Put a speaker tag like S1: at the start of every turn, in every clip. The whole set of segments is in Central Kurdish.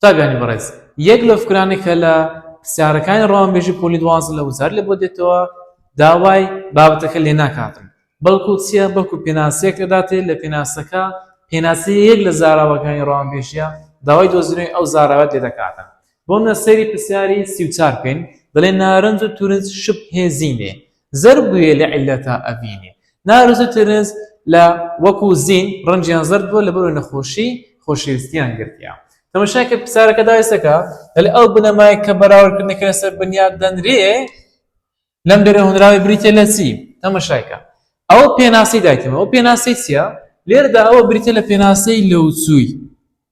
S1: قوتابیانی بەڕێز، یەک لەو فکرانەی کە لە پرسیارەکانی ڕەوانبێژی پۆلی دوازدە لە وزاری لێ بۆ دێتەوە داوای بابەتەکە لێ ناکاتن بەڵکو چیە بەڵکو پێناسەیەک ئەداتێ لە پێناسەکە پێناسەی یەک لە زاراوەکانی ڕەوانبێژیە داوای دۆزینەوەی ئەو زاراوەت لێ دەکاتن بۆ منە سەیری پرسیاری سی و چار بکەین دەڵێ نارنج و تورنج شپ هێزینێ زەرد بویە لە عیللەتا ئەڤینێ. نارس و ترنس لە وەک و زین ڕەنجیان زەرد بوە لەبەرئەوەی نەخۆشی خۆشەویستیان گرتیە. تەمەشای کە پرسیارەکە دایسەکە دەلێ ئەو بنەمایەی کە بەراوردکردنەکە لەسەر بنیات دەنرێ لەم دەرێ هۆنراوەی بریتیە لە چی؟ تەمەشای کە ئەو پێناسەی دایتەوە ئەو پێناسەی چیە؟ لێرەدا ئەوە بریتیە لە پێناسەی لەوچوی.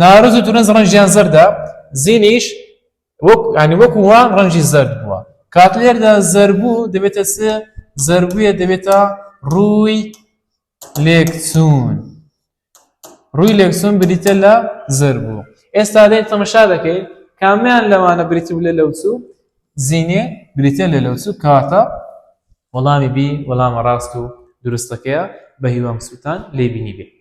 S1: نارنج و تورنج ڕەنجیان زەردە زینیش وەک ینی وەکو وا ڕەنجی زەرد بووە کات لێردا زەربوو دەبێتە سێ زەربووە دەبێتە ڕووی لێکچوون ڕووی لێکچوون بریتە لە زەربوو ئێستا دێ تەمەشا دەکەی کامیان لەوانە بریتی لە لەوچوو زینێ بریتە لە لەوچوو کاتە وەڵامی بی وەڵامە ڕاست و دروستەکەیە بە هیوام سووتان لێبینی بێت